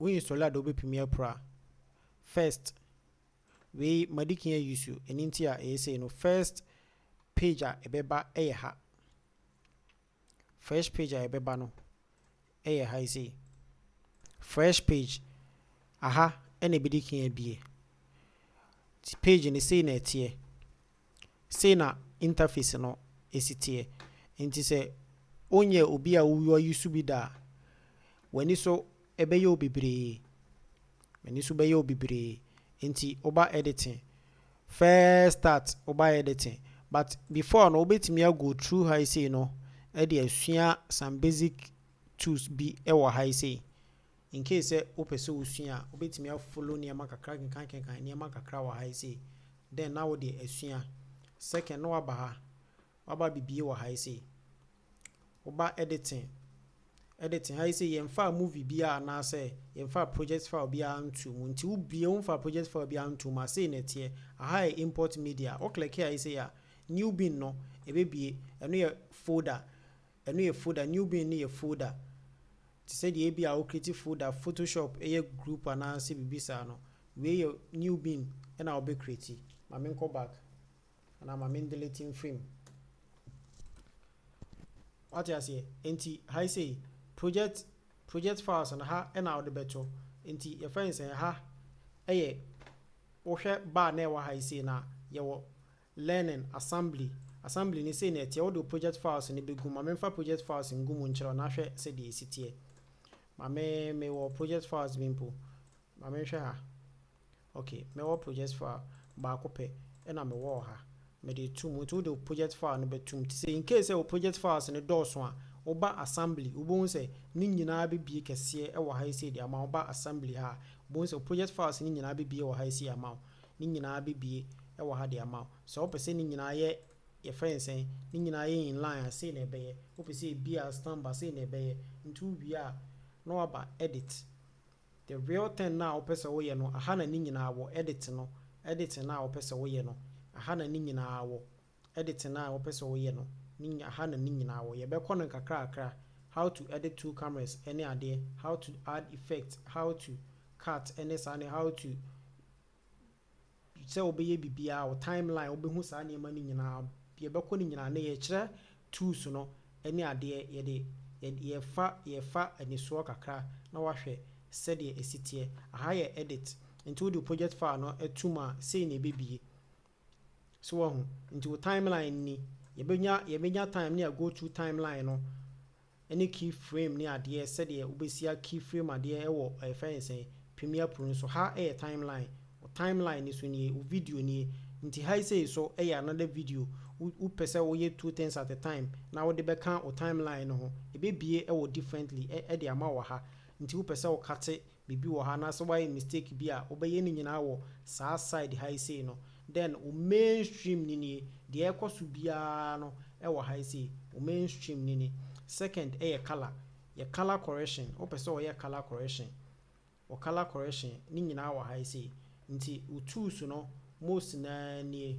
Wonyi sɔle a dɛ wobepimi apira. First, wei madikan ayusu ɛno nti a ɛyɛ sei no, first page a ɛbɛba yɛ ha. Fresh page a ɛbɛba no yɛ ha yi sei. Fresh page, aha na ɛbɛdikan abue. Nti page no sei na ɛteɛ. Sei na interface no si teɛ. Nti sɛ wonyɛ obi a wo use bi da a, w'ani so bɛyɛ wo bebree. W'ani so bɛyɛ wo bebree. Nti woba editing, first start woba editing, but before no wobɛtumi a go through ha yi sei no de asua some basic tools bi wɔ ha yi sei. Incase sɛ wopɛ sɛ wosua a, wobɛtumi a follow nneɛma kakra kenkan kenkan nneɛma kakra wɔ ha yi sei, then na wode asua. Second, na woaba ha, woaba abɛbie wɔ ha yi sei. Woba editing, editing ha yi sei yɛmfaa movie biara anaasɛ yɛmfaa project file biara ntoo mu nti wobie womfaa project file biara ntoo mu a, sei na ɛteɛ. Aha yɛ import media, wo click ha yi sei a, new bin no ɛbɛbie, ɛno yɛ folder. Ɛno yɛ folder, new bin no yɛ folder te sɛ deɛ ebi a wo create folder photoshop yɛ group anaa sɛ biribi saa no, wei yɛ new bin na wo bɛ create. Ma me nkɔ back anaa ma me ndelete mfiri mu. Wate aseɛ? Enti ha yi sei project project files no ha na wo de bɛ to, enti yɛfrɛ no sɛ ha yɛ wo hwɛ bar na ɛwɔ ha yi sei no a yɛwɔ Learning, Assembly, Assembly no sei na ɛteɛ, wode wo project files no bɛgu mu. Ma memfa project files ngu mu nkyerɛ wo na hwɛ sɛdeɛ ɛsi teɛ. Ma me, mewɔ project files bi mpo. Ma menhwɛ ha. Ok, mɛwɔ project file baako pɛ na mewɔ wɔ ha. Mede reto mu. Nti wode wo project file no bɛto mu. Nti sɛ in case sɛ wo project files no dɔɔso a, woba Assembly, wobɛhu sɛ ne nyinaa bɛbue kɛseɛ wɔ ha yi sei de ama wo. Woba Assembly ha a, wobɛhu sɛ wo project files no nyinaa bɛbue wɔ ha yi sei ama wo. Ne nyinaa bɛbue wɔ ha de ama wo. Sɛ wopɛ sɛ ne nyinaa yɛ, yɛfrɛ no sɛn, ne nyinaa yɛ in line a, sei na ɛbɛyɛ. Wopɛ sɛ ɛbue a, stamp a, sei na ɛbɛyɛ. Nti wowie a, na woaba edit. The real thing no a wopɛ sɛ woyɛ no, aha na ne nyinaa wɔ, edit no, editing no a wopɛ sɛ woyɛ no, aha na ne nyinaa wɔ. de tena a wɔpɛ sɛ wɔyɛ no ne nyina ha na ne nyinaa wɔ yɛbɛkɔ no nkakrakra how to edit two cameras ne adeɛ how to add effect how to cut ne saa ne how to sɛ wobɛyɛ biribiara wo timeline wobɛhu saa nneɛma no nyinaa yɛbɛkɔ no nyinaa ne yɛkyerɛ tools no ne adeɛ yɛde yɛfa yɛfa anisoɔ kakra na wahwɛ sɛdeɛ ɛsiteɛ aha yɛ edit nti wode project file no atum a sei na ɛbɛbie So wahu? Nti wo timeline ni, yɛbɛnya yɛbɛnya time ne yɛ go to timeline no ne key frame ne adeɛ sɛdeɛ wobɛsia key frame adeɛ ɛwɔ ɛfɛ ne sɛn Premiere Pro no so, ha ɛyɛ timeline, wo timeline no so nie, wo video nie, nti ha yi sei so ɛyɛ another video, wo wopɛ sɛ woyɛ two things at a time na wode bɛka wo timeline no ho, ɛbɛbue ɛwɔ differently ɛ ɛde ama wo wɔ ha, nti wopɛ sɛ wo kate Biribi wɔ ha anaasɛ wayɛ mistake bi a wobɛyɛ ne nyinaa wɔ saa side ha yi sei no, then wo mainstream no nie, deɛ ɛrekɔ so biara no wɔ ha yi sei, wo mainstream no ni. Second yɛ colour, yɛ colour correction, wopɛ sɛ wɔyɛ colour correction, wɔ colour correction, ne nyinaa wɔ ha yi sei. Nti wo tools no most no ara nie.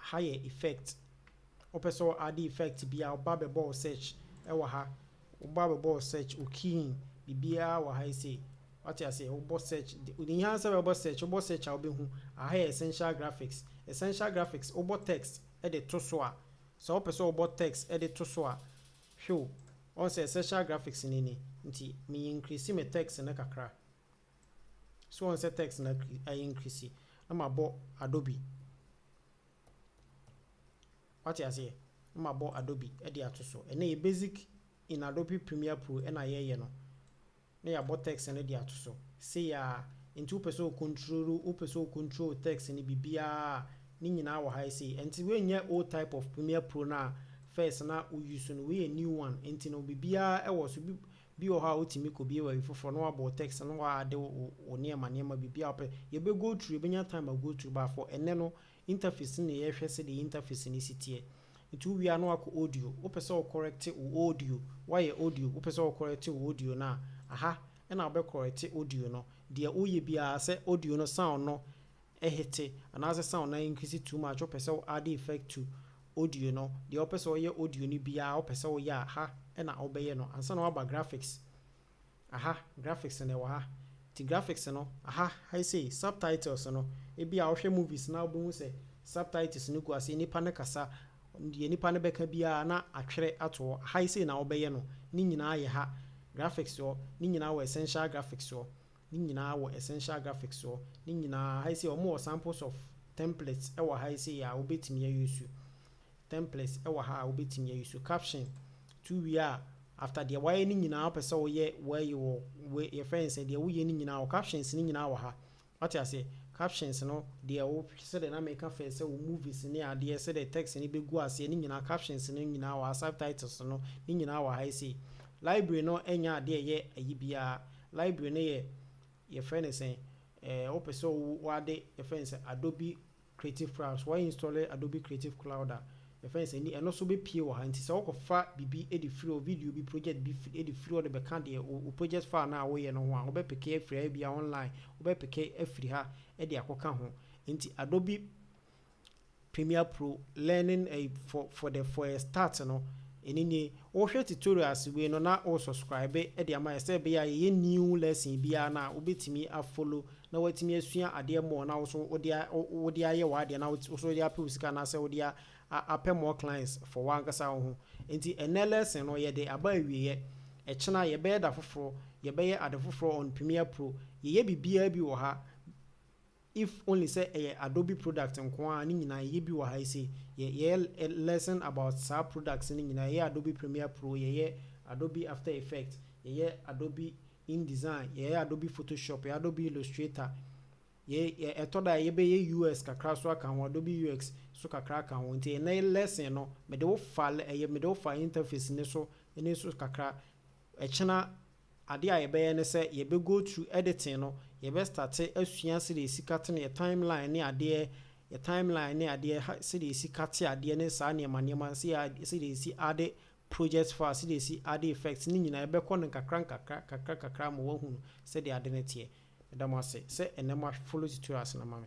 Aha yɛ effect. Wopɛ sɛ wo add effect bi a, woba bɛbɔ wo search wɔ ha. Woba bɛbɔ wo search, wo key in biribiara wɔ ha yi sei. Wate aseɛ? Wobɔ search, ɛhia ara sɛ wobɛbɔ search. Wobɔ search a, wobɛhu. Aha yɛ essential graphics. Essential graphics, wobɔ text de to so a, sɛ wopɛ sɛ wobɔ text de to so a, hwɛ o, woahu sɛ essential graphics no ni. Nti me increase me text no kakra. So wɔn sɛ text na ayɛ increase na ma bɔ Adobe. Wate aseɛ? Na ma bɔ Adobe ɛde ato so. Ɛnɛ yɛ basic in Adobe Premiere Pro ɛna yɛ yɛ no. Na yɛ abɔ text no ɛde ato so. Se yɛ a, nti wopɛ sɛ o control, wopɛ sɛ o control text no bibiaa a, ne nyinaa wɔ ha ɛsei. Ɛnti wei nyɛ old type of Premiere Pro no a first na o use no, wei yɛ new one. Ɛnti no bibiaa ɛwɔ so. Bi wɔ hɔ a wotumi kɔ bie baabi foforɔ na wabɔ wo text na w'ade wo wo nneɛma nneɛma biribiara wopɛ yɛ bɛ go through yɛ bɛ nya time a go through but for ɛnnɛ no interface no na yɛ hwɛ sɛdeɛ interface no si teɛ nti wo wie a na wakɔ audio wo pɛ sɛ wo correct wo audio wayɛ audio wo pɛ sɛ wo correct wo audio no a aha ɛna wo bɛ correct audio no deɛ wo yɛ biara sɛ audio no sound no Ehete anaasɛ sound na increase too much wopɛ sɛ wo add effect to audio no deɛ wopɛ sɛ woyɛ audio no biaa wopɛ sɛ woyɛ a ha na wobɛyɛ no ansa na woaba graphics aha graphics na ɛwɔ ha nti graphics no aha hai sei subtitles no ebia wohwɛ movies na wobɛhu sɛ subtitles no gu aseɛ nnipa no kasa deɛ nnipa no bɛka biaa na atwerɛ ato hɔ hai sei na wobɛyɛ no ne nyinaa yɛ ha graphics hɔ ne nyinaa wɔ essential graphics hɔ Ne nyinaa wɔ Essential Graphics soɔ. Ne nyinaa, ha yi sei wɔn wɔ samples of templates wɔ ha yi sei a wo bɛ tumi a use. Templates wɔ ha a wo bɛ tumi a use. Caption, to wie a, after deɛ wayɛ ne nyinaa wo pɛ sɛ wo yɛ wei wɔ wei yɛ fɛn sɛ deɛ wo yɛ ne nyinaa wɔ captions ne nyinaa wɔ ha. Wate aseɛ? Captions no deɛ wo sɛdeɛ na me ka fɛ sɛ wo movies ne adeɛ sɛdeɛ text no bɛ gu aseɛ ne nyinaa captions no nyinaa wɔ ha subtitles no ne nyinaa wɔ ha yi sei. Library no nyɛ adeɛ ɛyɛ ayi biara. Library no yɛ yɛfrɛ no sɛn? Ɛɛ wopɛ sɛ wo w'ade yɛfrɛ no sɛ Adobe Creative Cloud. Sɛ w'ainstɔle Adobe Creative Cloud a, yɛfrɛ no sɛ ni ɛno nso bɛpue wɔ ha. Nti sɛ wokɔfa biribi de firi hɔ, video bi, project bi firi de firi hɔ de bɛka deɛ wo wo project file no a woyɛ no ho a, wobɛpeke afiri ha ebia online, wobɛpeke afiri ha de akɔka ho. Nti Adobe. Premiere Pro learning ɛyi for for the for a start no ɛno nie wohwɛ tutorials wei no na wo subscribe de ama yɛ sɛ ɛbɛyɛ a yɛyɛ new lesson biara no a wobɛtumi a follow na woatumi asua adeɛ more na wo so wode wode ayɛ w'adeɛ na wo so wode apɛ wo sika anaasɛ wode a apɛ more clients for w'ankasa wo ho nti ɛnɛ lesson no yɛde aba awieɛ ɛkyena yɛbɛyɛ da foforɔ yɛbɛyɛ ade foforɔ on Premiere Pro yɛyɛ biribiara bi wɔ ha If only sɛ ɛyɛ Adobe product nko ara a ne nyinaa yɛyɛ bi wɔ ha yi se yɛ yɛyɛ lesson about saa products no nyinaa yɛyɛ Adobe Premiere Pro yɛyɛ Adobe After Effect yɛyɛ Adobe InDesign yɛyɛ Adobe Photoshop yɛyɛ Adobe Illustrator yɛyɛ ɛtɔ da a yɛbɛyɛ UX kakra nso aka ho Adobe UX nso kakra aka ho nti ɛnnɛ lesson no mede wo fa ɛyɛ mede wo fa interface no so ne so kakra ɛkyena Ade a yɛbɛyɛ ne sɛ yɛbɛ go through editing no, yɛbɛ starte asua sɛdeɛ yɛsi kate no, yɛ timeline ne adeɛ, yɛ timeline ne adeɛ, ha sɛdeɛ yɛsi kate adeɛ ne saa nneɛma nneɛma, sɛ yɛ add sɛdeɛ yɛsi adde project file, sɛdeɛ yɛsi adde effects, ne nyinaa yɛbɛ kɔ no nkakra nkakra nkakra nkakra ama w'ahunu sɛdeɛ ade no teɛ. Meda mo ase sɛ ɛnnɛ mo a follow tutorials no ma me.